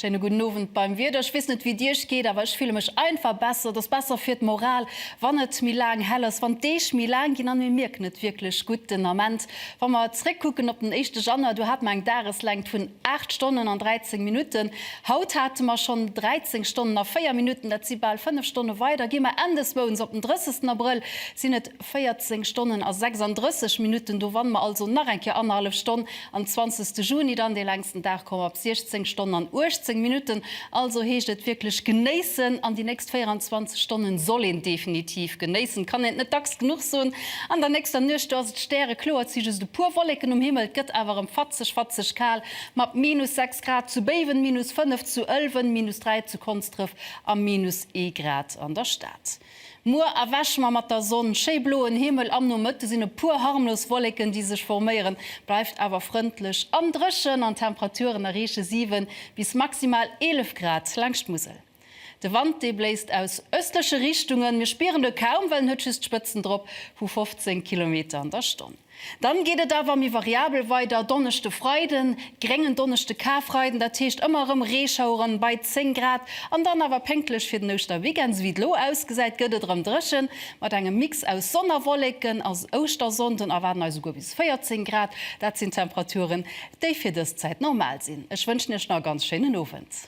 Schéine gudden Owend beim Wieder. Ech weess net wéi et Iech geet, awer ech fille mech einfach besser. Et ass besser fir d'Moral, wann et méi laang hell ass, wann d'Deeg méi laang ginn an mir mierken et wierklech gutt den Ament. Wa mer zréckkucken op den éischte Januar, do hat mer eng Dageslängt vun 8 Stonnen an 13 Minutten. Haut hate mer schonn 13 Stonnen a 4 Minutten, dat si bal 5 Stonne weider. Gi mer endeswouns op den 30 Abrëll, sinn et 14 Stonnen a 36 Minutten. Do wanne mer also nach eng Kéier annerhallef Stonn. Am 20 Juni dann dee längsten Dag, komme mer op 16 Stonnen an 18 Minutten. Also heescht et wierklech genéissen an déi nächst 24 Stonnen soll een definitiv genéissen, et kann een et net dacks genuch soen. An der nächster Nuecht, do ass et stärekloer, et si just e puer Wollécken um Himmel, et gëtt awer erëm fatzeg, fatzeg kal mat minus 6. Grad, zu Béiwen minus 5, zu Ëlwen minus 3, zu Konsdref a minus ee Grad an der Stad. Muer erwäche mer mat der Sonn, schéi bloen Himmel, am Nomëtte sinn e puer harmlos Wolleken déi sech forméieren, bleift awer frëndlech an dréchen an d'Temperaturen erreeche 7 bis maximal 11 Grad laang d'Musel. De Wand, dee bléist aus ëstleche Richtungen, mir spieren de kaum, well en huet just Spëtzen drop vu 15 Kilometer an der Stonn. Dann geet et awer méi variabel weider, Donneschde, Freiden, gréngen Donneschde, Karfreiden, dat heescht ëmmer erëm Reeschaueren bei 10 Grad an dann awer pénktlech fir den Ouschterweekend. Esou wéi et elo ausgesäit, gëtt et erëm dréchen mat engem Mix aus Sonn a Wolleken. As Ouschtersonnden erwaarden eis esouguer bis 14 Grad. Dat sinn Temperaturen, déi fir dës Zäit normal sinn. Ech wënschen Iech nach e ganz schéinen Owend.